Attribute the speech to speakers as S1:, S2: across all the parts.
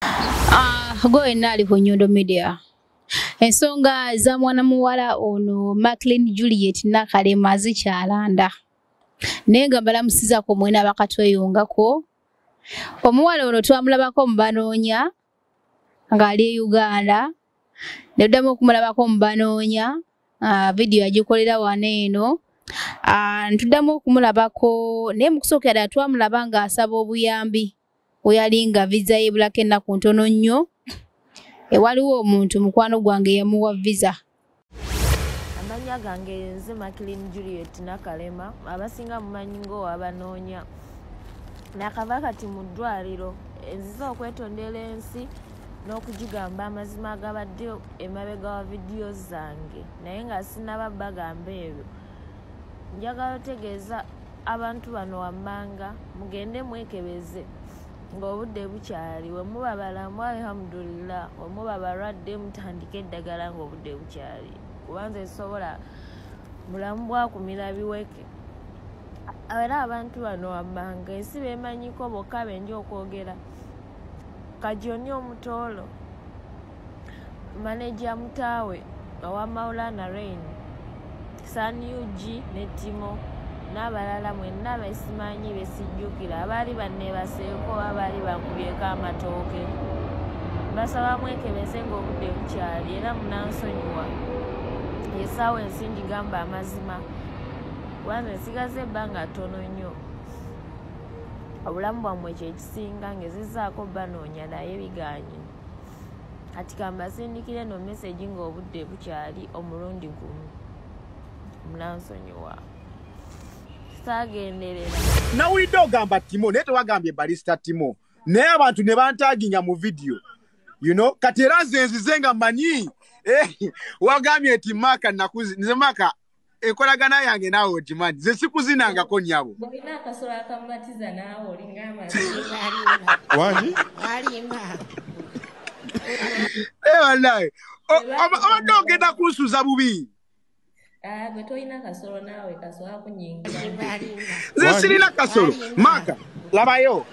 S1: Ah, go and nali ku Nyondo Media. Ensonga za mwana muwala ono Macklin Juliet Nakalema zikyalanda. Naye nga mbalamusiza ku mwena bakatweyungako. Omuwala ono twamulabako mu banoonya ng'ali e Uganda. Ne ddamu okumulabako mu banoonya. Ah, video yagikolera wano eno. Ah, ntuddamu okumulabako naye mu kusooka ddala twamulaba ng'asaba obuyambi. oyo alinga viza yebulako ennaku ntono nnyo ewaliwo omuntu mukwano gwange yamuwa viza
S2: amannya gange nze makilin juliet nakalema abasinga mumanyi ng'owabanoonya nakava kati mu ddwaliro enziza okwetondera ensi n'okugigamba amazima agabadde emabega wa vidiyo zange naye nga sinaba bagamba ebyo njagala otegeeza abantu bano wammanga mugende mwekebeze ng'obudde bukyali wemuba balamu alhamdulillah wemuba balwadde mutandike eddagala ng'obudde bukyali kubanza esobola bulamu bwakumira biweke era abantu bano wammanga ensi bemanyiko bokka benja okwogera kajoni omutoolo maneja mutaawe owa maulana rain san ug ne timo n'abalala mwenna besimanyi besijjukira abaali banneebaseeko abaali bankubyeko amatooke basaba mwekebeze ng'obudde bukyali era munansonyiwa yesaawa ensi ngigamba amazima kubanga esigaza ebbanga ttono nnyo obulamu bwammwe kyekisinga ngezizaako banoonya naye biganye kati kambasindikire no message nga obudde bukyali omulundi gumu munansonyiwa
S3: sagenderera nawulidde ogamba timo naye tewagambye balista timo naye abantu ne bantaginga mu vidiyo you know kati era nze nzize nga manyi eh, wagambye nti maka nakuzi nze maka enkolagana yange naawe ogimanyi ze sikuzinangako nyabo olina akasola akamumatiza naawe olingamba wani alimba ebanaye eh, obadde ogenda kunsuza bubi ah, gwe tolina kasolo naawe kasolo akunyingira nze sirina kasolo maaka labayo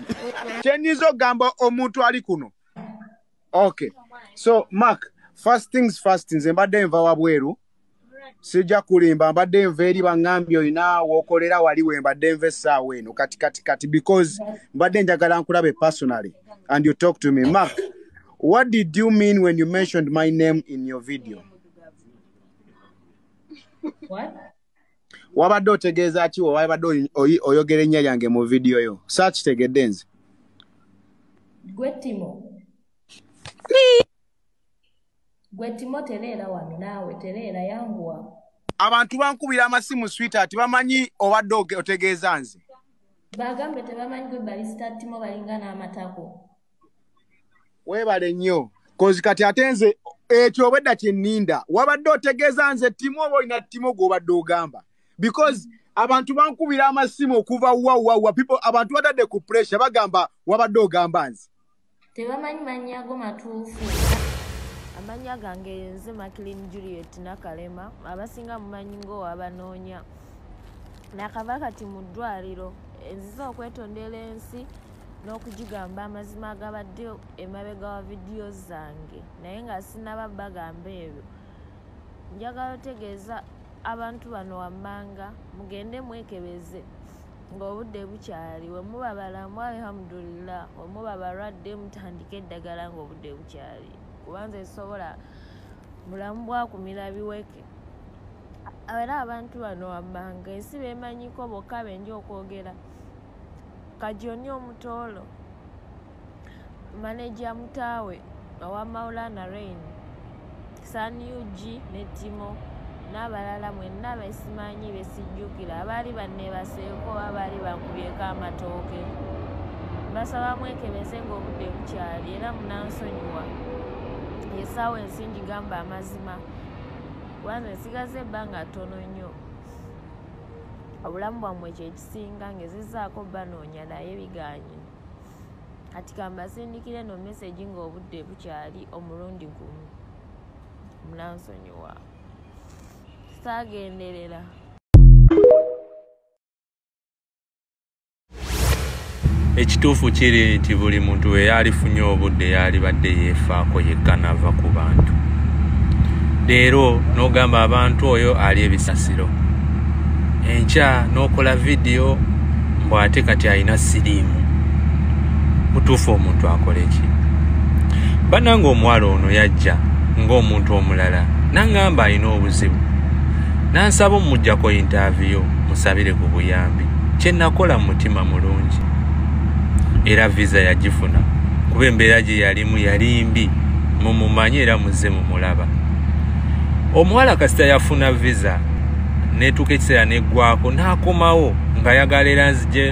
S3: kyenyinza okugamba omuntu ali kuno okay so mark first things first nze mbadde nva wabweru sijja kulimba mbadde nva eri baŋŋambye olina wokolera wali we mbadde nva essaawa eno kati kati kati because mbadde njagala nkulabe personally and you talk to me mark what did you mean when you mentioned my name in your video What? wabadde otegeeza ki wewabadde oyogera ennya lyange mu vidiyo yo saakitegedde nze
S2: gwe timo gwe timo tereera wano naawe tereera yanguwa abantu bankubira
S3: amasimu swita ati bamanyi obadde otegeeza nze bagambe
S2: tebamanyi gwe balisita timo balinga n'amatako
S3: webale nnyo kozi kati ate nze ekyo obwedda kyenninda wabadde otegeeza nze ttimu oba olina ttimu gwobadde ogamba because abantu bankubira amasimu okuva wawawa people abantu batadde ku pressure bagamba wabadde ogamba nze tebamanyi
S2: mannya ago matuufu amannya gange yenze maclin juliet nakalema abasinga mumanyi ngaowabanoonya nakava kati mu ddwaliro enziza okwetondera ensi n'okugigamba amazima agabadde emabega wa vidiyo zange naye nga sinaba bagamba ebyo njagala otegeeza abantu bano wammanga mugende mwekebeze ng'obudde bukyali we muba balamu alhamdulillah we muba balwadde mutandike eddagala ng'obudde bukyali kubanza esobola bulamu bwakumira biweke era abantu bano wammanga ensi bemanyiko bokka benja okwogera kajoni omutoolo maneja mutaawe owa maulana rain san ug ne timo n'abalala mwenna besimanyi besijjukira abaali banneebaseeko abaali bankubyeko amatooke basaba mwekebeze ng'obudde bukyali era munansonyiwa esaawa ensi ngigamba amazima kubanga esigaza ebbanga ttono nnyo obulamu bwammwe kyeki singa ngezezaako banoonya naye biganye kati kambasindikira eno mesegi ng'obudde bukyali omulundi gumu munansonyiwa saagenderera
S4: ekituufu kiri nti buli muntu we yaalifunye obudde yaalibadde yeefaako yekka nava ku bantu leero n'ogamba abantu oyo ali ebisasiro enkya n'okola vidiyo mbu ate kati alina siriimu mutuufu omuntu akola eki bannanga omuwala ono yajja ng'omuntu omulala nangamba alina obuzibu nansaba omujjako yintaaviyo musabire ku buyambi kye nakola mu mutima mulungi era visa yagifuna kuba embeera gye yalimu yali mbi mumumanyi era muzze mumulaba omuwala kasita yafuna visa netuuka ekiseera neggwako n'akomawo nga yagala era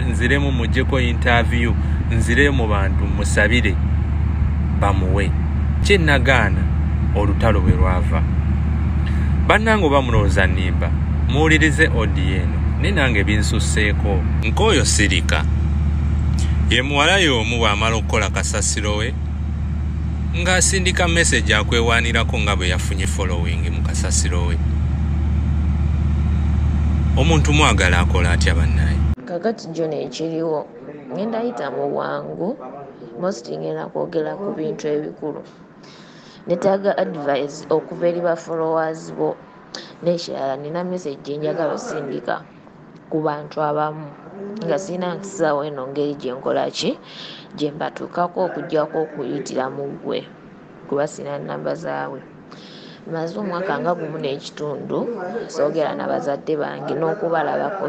S4: nziremu mujjeko intaviyu nzire mu bantu musabire bamuwe kyenagaana olutalo bwe lwava bannange oba mulowooza nimba muwulirize odn naye nange binsusseeko nkooyo sirika ye muwala y'omu bw'amala okukola kasasiro we ng'asindika mesegi akwewaanirako nga bwe yafunye following mu kasasiro we omuntu mwagala akola atya bannaye kakati jona
S2: ekiriwo ngenda yita mu bwangu mosti ngenda kwogera ku bintu ebikulu netaaga advise okuva eri ba followers bo n'ekirala nina message gye njagala osindika ku bantu abamu nga sirina nkisaawo eno ngeri gye nkola ki gye mbatuukako okuggyako okuyitira mu ggwe kuba sirina nnamba zaabwe maze omwaka nga gumu n'ekitundu soogera na bazadde bange n'okubalabako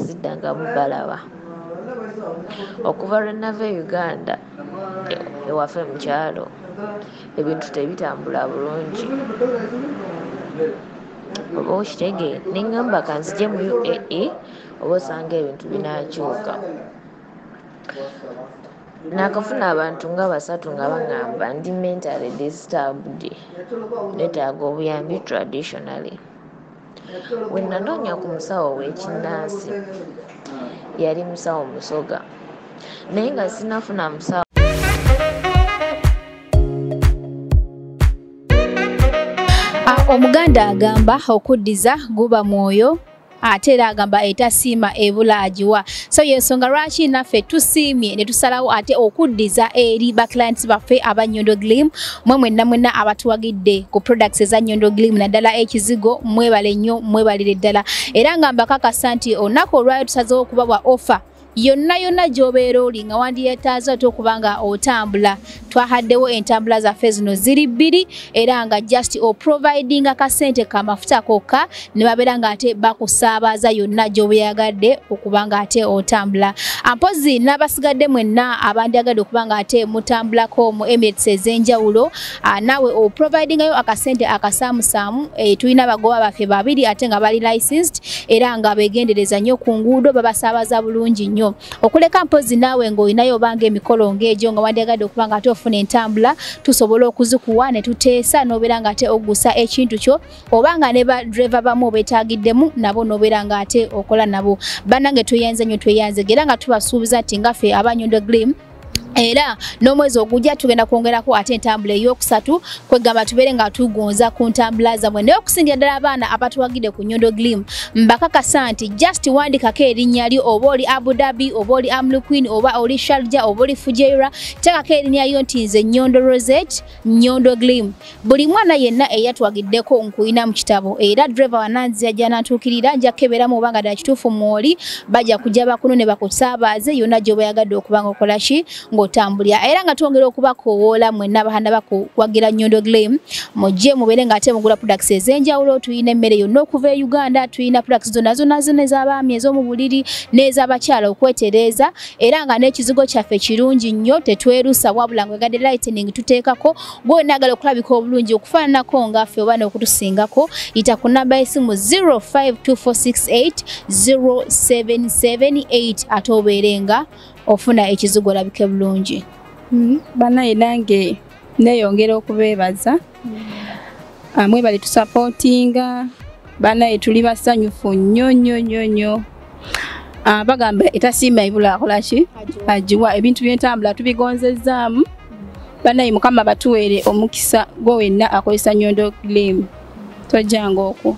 S2: siddangamu balaba okuva lwe nava e uganda ewaffe mukyalo ebintu tebitambula bulungi oba okitege neŋamba kanzije mu uae oba osanga ebintu binakyuka nakafuna abantu nga basatu nga baŋamba ndi mentally disturbed netaaga obuyambi traditionally Bwe nanoonya ku musawo ow'ekinnansi yali musawo Musoga naye nga sinafuna musawo
S1: omuganda agamba okuddiza guba mwoyo ate era agamba etasiima ebula agiwa so yensonga lwaki naffe tusiimye ne tusalawo ate okuddiza eri ba clients baffe aba Nyondo Glim mwe mwenna mwenna abatuwagidde ku products eza Nyondo Glim naddala ekizigo mwebale nnyo mwebalire ddala era nga mbakakasa nti olunaku olwayo tusazewo okubawa offer yonna yonna gy'obeera oli nga wandiyetaaza ate okuba nga otambula twahaddewo entambula zaffe zino ziri bbiri era nga just oprovidinga kasente kamafuta kokka ne babeera nga ate bakusaabaza yonna gyobeyagadde okuba nga ate otambula mpozi n'abasigadde mwenna abandyagadde okuba nga ate mutambulako mu emirates ez'enjawulo ah, naawe oprovidingayo akasente akasaamusaamu eh, tulina abagoba baffe babiri ate nga bali licensed era nga begendereza nnyo ku nguudo babasaabaza bulungi nnyo okuleka mpozi naawe ng'olinayo obanga emikolo ng'egyo nga wandyagadde okuba nga ate ofuna entambula tusobola okuzikuwa ne tuteesa n'obeera nga ate ogusa ekintu kyo oba nga ne badreva bamu obetaagiddemu nabo n'obeera nga ate okola nabo bannange tweyanze nnyo tweyanze era nga tubasuubiza nti ngaffe abanyondo glim era n'omwezi ogujja tugenda kwongerako ate entambula ey'okusatu kwegamba tubeere nga tugonza ku ntambula zamwe naye okusingira ddala abaana abatuwagide ku nyondo glim mbakakasa nti just wandikako erinnya lyo oba oli abu dhabi oba oli amluquin oba oli sharja oba oli fujeira tekako erinnya lyo nti nze nyondo rosette Nyondo Glim buli mwana yenna eyatwagiddeko nkuyina mu kitabo era driver wananzia janatuukirira ajja kukebera mu banga dda kituufu mwoli bajja kujja bakunu ne bakusaabaze yonna gyoba yagadde okuba nga okola ki ng'otambulira era nga twongera okubakowoola mwenna abahanda bakuwagira Nyondo Glim mujje mubeere ng'ate mugula products ez'enjawulo tulina emmere yonna okuva e Uganda tulina products zonna zonna zonna ez'abaami ez'omu buliri n'ez'abakyala okwetereeza era nga n'ekizigo kyaffe kirungi nnyo tetwerusa wabula nga gade lightning tuteekako gwona agala okulabika obulungi okufaananako nga ffe oba n'okutusingako yita ku namba y'esimu 0524680778 ate obeere nga ofuna ekizigo olabike bulungi mm-hmm. banaye
S5: nange neyongera okubeebaza amwe bali tusapotinga banaye tuli basanyufu nnyo nnyo nnyo nnyo ah, bagamba etasiima ebula akolaki agiwa ebintu byentambula tubigonzezzaamu banaye mukama batuweere omukisa gwe wenna akozesa nyondo glim tojjanga okwo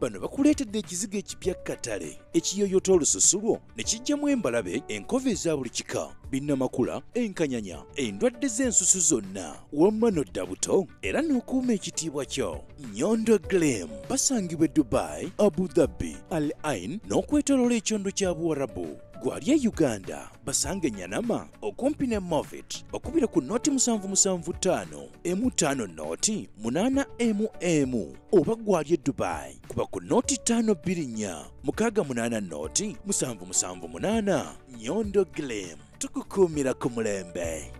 S6: Bano bakuleetedde ekizigo ekipya katale ekiyoyota olususu lwo ne kijjamu embalabe enkova eza buli kika binnamakula enkanyanya endwadde z'ensusu zonna wamma nodda buto era n'okuuma ekitiibwa kyo nyondo glem basangibwa e dubai abu dhabi al ain n'okwetoloola ekyondo kya buwarabu gwali e uganda basanga enyanama okumpi ne movit okubira ku noti 775 emu ttaano nooti munaana emu emu oba gwali e dubai kuba ku nooti ttaano bbiri nnya mukaaga munaana nooti musanvu musanvu munaana nyondo glim tukukuumira ku mulembe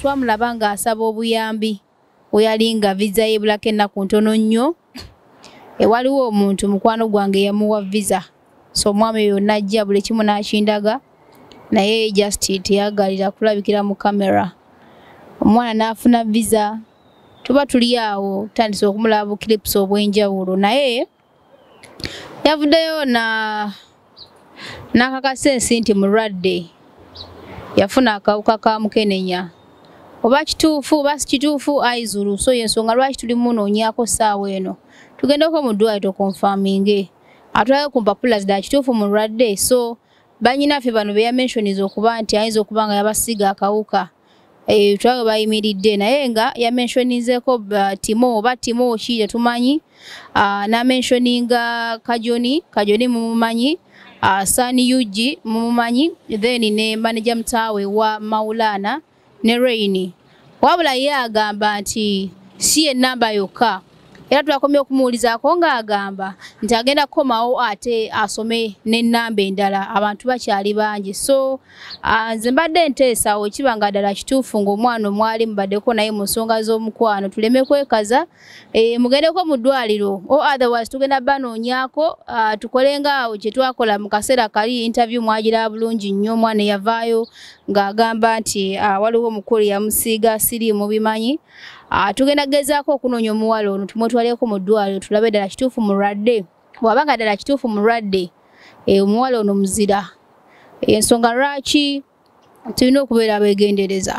S1: twamulaba ng'asaba obuyambi weyalinga visa yebulako ennaku ntono nnyo ewaliwo omuntu mukwano gwange yamuwa visa so omwami oyo najja buli kimu nakindaga naye just teyagalira kulabikira mu kamera omwana n'afuna visa tuba tuli awo tutandise okumulaba buclips obw'enjawulo naye yavuddeyo na n'akakasa ensi nti mulwadde yafuna akawuka ka mukenenya oba kituufu oba si kituufu aizulu so yensonga lwaki tuli munoonyako ssaawa eno tugendeko mu ddwali tokonfaminge atulayo ku mpapula zidala kituufu mulwadde so banyinaffe bano beyamenshoniza okuba nti ayinza okuba nga yabasiiga akawuka eh, tulaga bayimiridde naye nga yamenshonizeko uh, timo oba timo ki tetumanyi uh, namenshoninga kajoni kajoni mumumanyi uh, sani ug mumumanyi then ne manaja mutaawe wa maulana ne raini wabula ye agamba nti si enamba yokka era twakomye okumuwulizaako ng'agamba nti agenda kukomawo ate asome n'ennamba endala abantu bakyali bangi so ah, nze mbadde nteesawo kiba nga ddala kituufu ng'omwana omwali mubaddeko naye mu nsonga z'omukwano tuleme kwekaza eh, mugendeko mu ddwaliro o otherwise tugenda banoonyako ah, tukole ngaawo kye twakola mu kaseera kali interview mwagira bulungi nnyo omwana eyavaayo ng'agamba nti ah, waliwo omukulu yamusiiga siriimu bimanyi Ah, tugenda kugezaako okunoonya omuwala ono tumwetwaleko mu ddwaliro tulabe ddala kituufu mulwadde bw'aba nga ddala kituufu mulwadde eh, omuwala ono muzira ensonga lwaki tulina okubeera abeegendereza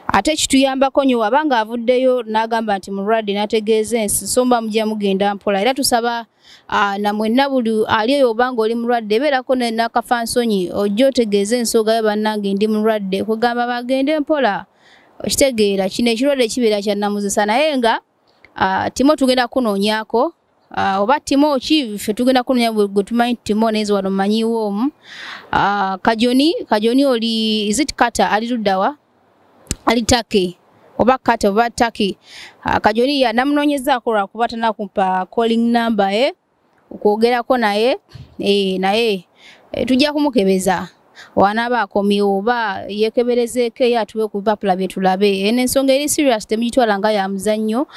S1: ate kituyambako nyo waba nga avuddeyo n'agamba nti mulwadde n'ategeeza ensi so mba mujja mugenda mpola era tusaba ah, namwenna buli ali eyo obanga oli mulwadde ebeerako nakafansonyi ojja otegeeza ensoga yo bannange ndi mulwadde kugamba bagende mpola okitegeera kino ekirwadde kibeera kyannamuzisa naye nga ah, timo tugenda kunoonyako ah, oba timo ki fe tugenda kunoonya gwe tumanyi timo naye wano mmanyiwo omu ah, kajoni kajoni oli izit kata ali luddawa ali taki oba kata oba taki kajoni yanamunoonyezaako lwakuba tanakumpa calling number e eh? okwogerako naye eh, naye eh, tujja kumukebeza wanaaba akomyewo oba yekeberezeeko eyo atuwe ku bipapula bye tulabe eno ensonga eri serious temugitwala nga ya muzannyo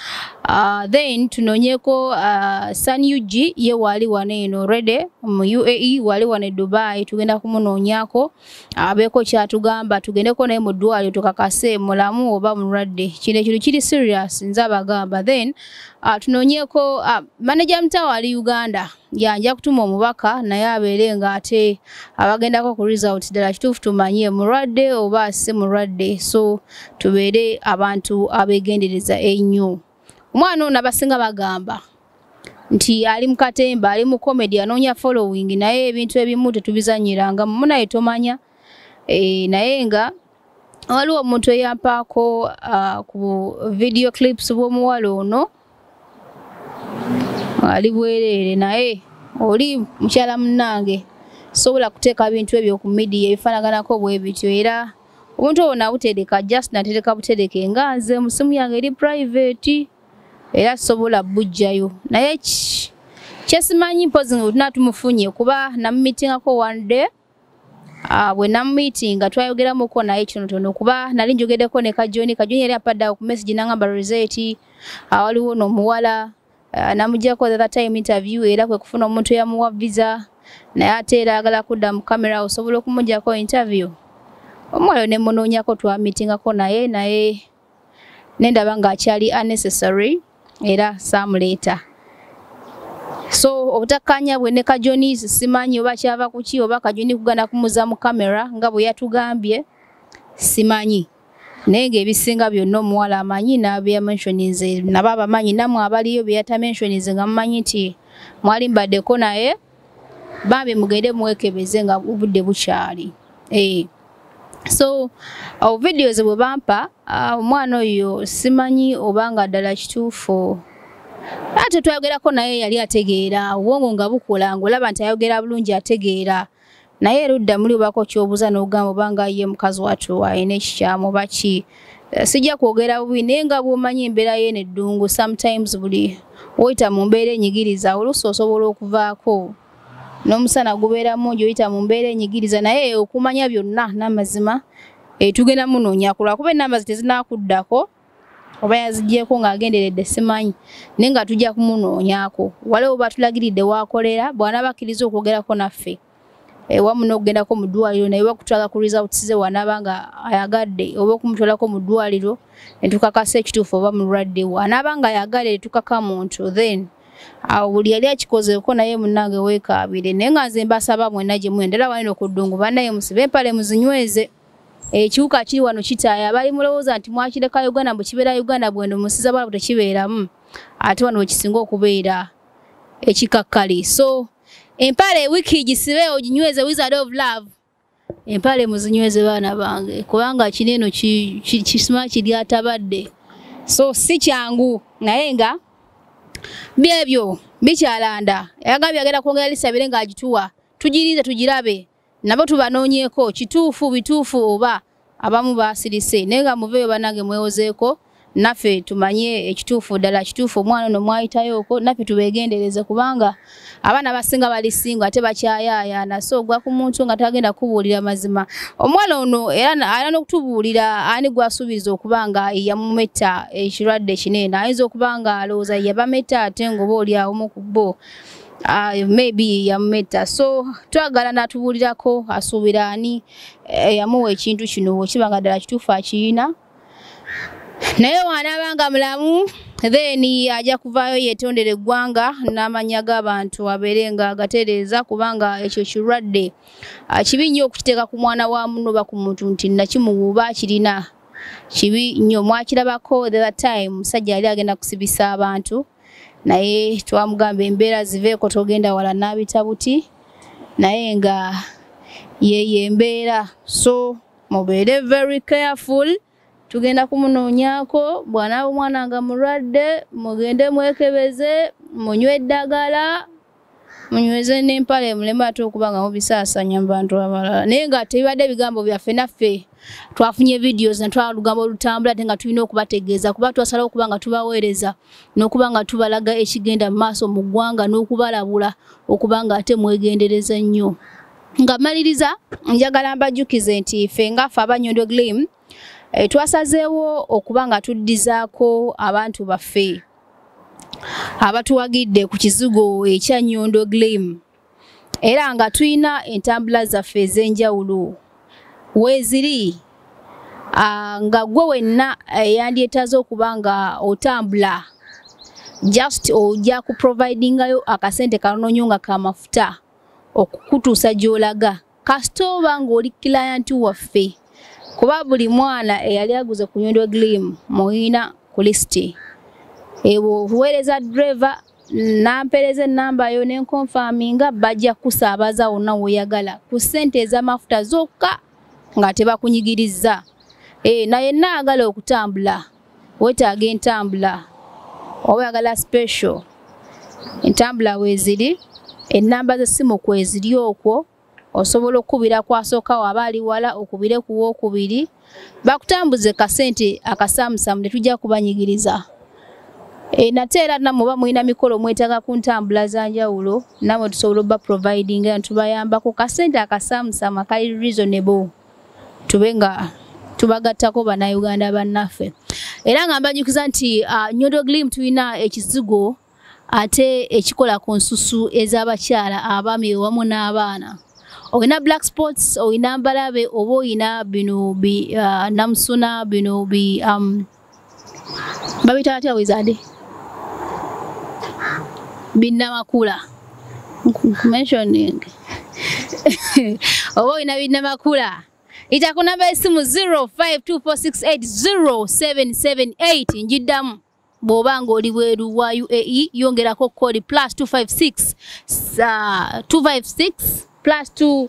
S1: ah, then tunoonyeko ah, sun ug ye waali wano eno rede mu uae waali wano e dubai tugenda kumunoonyako abeeko kyatugamba tugendeko naye mu ddwaliro tukakase mulamu oba mulwadde kino ekintu kiri serious nze abagamba then uh, tunoonyeko uh, ah, maneja mtawo ali uganda yanja kutuma omubaka naye abeere nga ate abagendako ku result ddala kituufu tumanye mulwadde oba si mulwadde so tubeere abantu abegendereza ennyo omwana ono abasinga bagamba nti ali mu katemba ali mu comedy anoonya following naye ebintu ebimu tetubizanyiranga mumu naye tomanya e, naye nga waliwo omuntu eyampaako uh, ku video clips bw'omuwala ono ali bwereere naye oli mukyala munnange sobola kuteeka bintu ebyo ku midiya ebifaanaganako bwe bityo era obuntu obwo nabutereka just natereka butereke nga nze musimu yange eri private era sobola bujjayo naye kyesimanyi mpozi nga bwetuna tumufunye kuba namumitingako one day ah, bwe namumitinga twayogeramuko naye kinotono kuba nali njogedeko ne kajoni kajoni yali apadda ku message nangamba roseti awaliwo ah, nomuwala uh, namugyako the time interview era kwe kufuna omuntu eyamuwa visa naye ate era agala kudda mu camera osobola okumugyako interview omwoyo ne munoonyako twamitingako naye naye nendaba nga akyali unnecessary era saamuleeta so obutakkaanya bwe ne kajoni simanyi oba kyava kuki oba kajoni kugana kumuza mu camera nga bwe yatugambye simanyi naye ng'ebisinga byonna omuwala amanyi n'abyamenshonize nabo abamanyi namwe abaliyo beyatamenshonize nga mumanyi nti mwali mbaddeko naye bambi mugende mwekebeze nga obudde bukyali eh. so awo videos bwe bampa ah, omwana oyo simanyi oba nga ddala kituufu ate twayogerako naye yali ategeera obwongo nga bukola ngaolaba nti ayogera bulungi ategeera ah, naye erudda muli obako kyobuza nogamba obanga ye mukazi watu ayina ekikyamu baki eh, sijja kwogera bubi naye nga bwomanyi embeera ye neddungu sometimes buli oyita mu mbeera enyigiriza oluusi osobola okuvaako n'omusana gubeera mungi oyita mu mbeera enyigiriza naye okumanya byonna n'amazima etugenda eh, munoonya kulwakuba enamba ze tezinakuddako oba yazigyeko ng'agenderedde simanyi naye nga tujja kumunoonyako waliwo batulagiridde waakolera bw'anaaba akkiriza okwogerako naffe ewamu eh, n'okugendako mu ddwaliro naye bakutwala ku results ze wanaaba nga ayagadde oba okumutwalako mu ddwaliro ne tukakasa ekituufu oba mulwadde wo anaaba nga ayagale tukaka muntu then awo buli yali akikozeeko naye munange weekaabire naye nga nze mbasaba mwena gye mwendera wanene okuddungu banaye musibe empale muzinyweze ekiwuka kiri wano kitaaya bali mulowooza nti mwakireka uganda mbu kibeera uganda bwendo musiza bwalabu tekibeeramu ate wano wekisinga okubeera ekikakkali so empale wiki gisibe oginyweze wizard of love empale muzinyweze baana bange kubanga kino eno kisima kiryatabadde so si kyangu naye nga byebyo bikyalanda yagambye agenda kwongera lisabire ng'agituwa tugirinze tugirabe nabo tubanoonyeeko kituufu bituufu oba abamu baasirise naye nga muveeyo banange mwewozeeko naffe tumanye ekituufu ddala kituufu omwana ono mwayitayooko naffe tubeegendereze kubanga abaana abasinga bali singo ate bakyayaayaana so ogwa ku muntu nga tagenda kubuulira mazima omwana ono era ayina n'okutubuulira ani gwasuubiriza okuba nga yamumetta ekirwadde kineeno ayinza okuba nga alowooza yabametta ate ngaoba oli awomu ku bo Ah, maybe yamumetta so twagala natubuulirako asuubira ani eh, yamuwa ekintu kino wekiba nga ddala kituufu akiyina naye waanaabanga mulamu then ajja kuvaayo yetondera eggwanga n'amanya g'abantu abeere nga agatereeza kubanga ekyo kirwadde ah, kibi nnyo okukiteeka ku mwana wa muno oba ku muntu nti nakimuwuuba kirina kibi nnyo mwakirabako the time musajja yali agenda kusibisa abantu naye twamugamba embeera ziveeko togenda wala n'abita buti naye nga yeyo embeera so mubeere very careful tugenda kumunoonyako bwanaaba omwana nga mulwadde mugende mwekebeze munywe eddagala munyweze n'empale muleme ate okuba nga mubisaasanya mu bantu abalala naye nga tebibadde ebigambo byaffe naffe twafunye videos natwala olugambo olutambula ate nga tulina okubategeeza kuba twasalawo okuba nga tubaweereza n'okuba nga tubalaga ekigenda mu maaso mu ggwanga n'okubalabula okuba nga ate mwegendereza nnyo nga maliriza njagala mbajjukize nti ffe ngaffe abanyondo glim eh, twasazeewo okuba nga tuddizaako abantu baffe abatuwagidde ku kizigo ekya nyondo glim era nga tulina entambula zaffe ez'enjawulo weeziri nga gwe wenna eh, yandyetaaza okuba nga otambula just ojja ku providingayo akasente kanoonyo nga kamafuta okukutuusa gy'olaga kasita oba ng'oli kilayanti waffe kuba buli mwana eyali aguze ku nyondo glim muyina ku lisiti ebwo obuweereza dreva nampereza enamba yo nenkonfaminga bajja kusaabaza wonna woyagala ku ssente ez'amafuta zokka nga tebakunyigirizza e, naye naagala okutambula wetaaga entambula oba oyagala special entambula weeziri ennamba z'essimu kweziri okwo osobola okukubira kwasooka waba ali wala okubire ku wookubiri bakutambuze kasente akasaamusaamu tetujja kubanyigiriza E, nate era namwe oba mulina mikolo mwetaaga ku ntambula za njawulo namwe tusobola oba providing nga tubayambako kasente akasaamusaamu akali reasonable tube nga tubagattako bannayuganda bannaffe era nga mbanyukiza nti uh, nyodo glim tulina ekizigo ate ekikola ku nsusu ez'abakyala abaami wamu n'abaana olina black sports olina mbalabe oba olina bino bi uh, namusuna bino bi um, babita batya wizade binnamakula mentioning oba olina binnamakula ita ku namba esimu 0524680778 njiddamu bw'oba ng'oli bweru wa uae yongerako kkooli plus 256 uh, 256 plus 2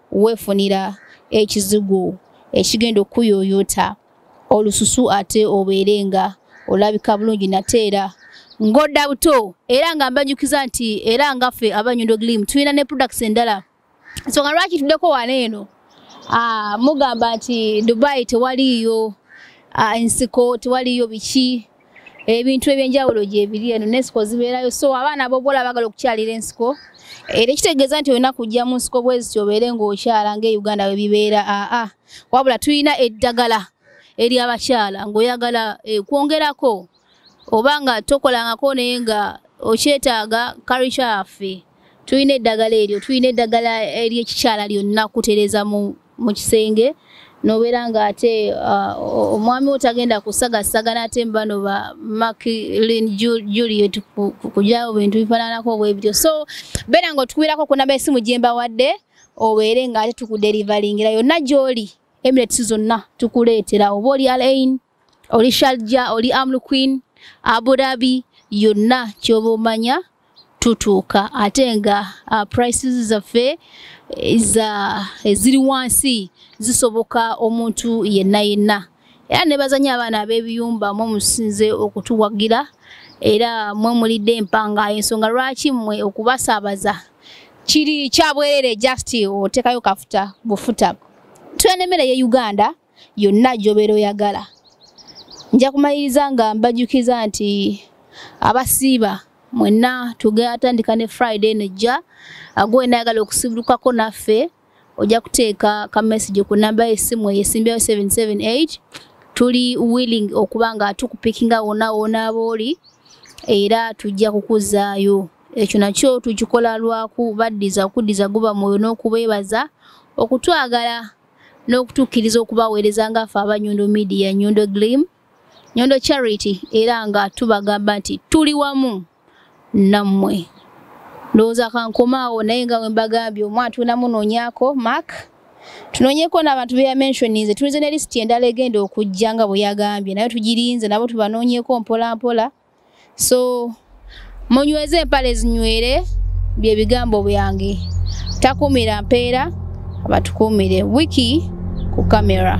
S1: wefunira ekizigo ekigenda okukuyoyota olususu ate obeere nga olabika bulungi nate era ngodda buto era nga mbanyukiza nti era nga ffe abanyondo glim tulina ne products endala nsonga lwaki tuddeko wano eno ah, mugamba nti dubai tewaliiyo ah, ensiko tewaliiyo biki ebintu ebyenjawulo gyebiri eno nensiko zibeerayo so abaana bobola bagala okukyalira ensiko era ekitegeeza nti olina kujja mu nsiko bweziti obeere ngaokyala nga e uganda webibeera aa wabula tulina eddagala eri abakyala ngaoyagala eh, kwongerako oba nga tokolangako naye nga okyetaaga karica yaffe tulina eddagala eryo tulina eddagala eryekikyala lyonna kutereza mu mu kisenge nobeera nga ate uh, omwami wo tagenda kusagasaga naate mubano ba maklin juliet kujawo bintu bifananako bwebityo so beera nga otukubeerako kunaba esimu gyembawadde obeere nga ate tukuderivalingira yonna gyoli emirates zonna tukuleetera oba oli alain oli shalja oli amlu queen aburabi yonna kyoba omanya tutuuka ate nga uh, prices zaffe eziri wansi zisoboka omuntu yenna yenna era nebazanya abaana ab'ebiyumba mwe musinze okutuwagira era mwe mulidde empanga ensonga lwaki mwe okubasaabaza kiri kyabwerere just otekayo kafuta bufuta tulina emmere ye uganda yonna gy'obeera oyagala nja kumaliriza nga mbajjukiza nti abasiiba mwenna tugatandika ne friday nejja agwe nayagala okusibulukako naffe ojja kuteeka ka message ku namba y'essimu eyo esimbyayo 778 tuli willing okuba nga tukupikinga wonna wona booli era tujja kukuzaayo ekyo nakyo tukikola lwaku baddiza okuddiza guba mwoyo n'okubeebaza okutwagala n'okutukkiriza okubaweereza nga ffe aba nyondo media nyondo glim nyondo charity era nga tubagamba nti tuli wamu nammwe ndowooza kankomaawo naye nga we mbagambye omu atunda munoonyako mark tunoonyeko n'abantu be yamentioninze tulinze ne lisiti endala egenda okujja nga bwe yagambye naye tugirinze nabo tubanoonyeko mpolampola so munyweze empale zinywere bye bigambo byange takumira mpeera abatukumire wiki ku kamera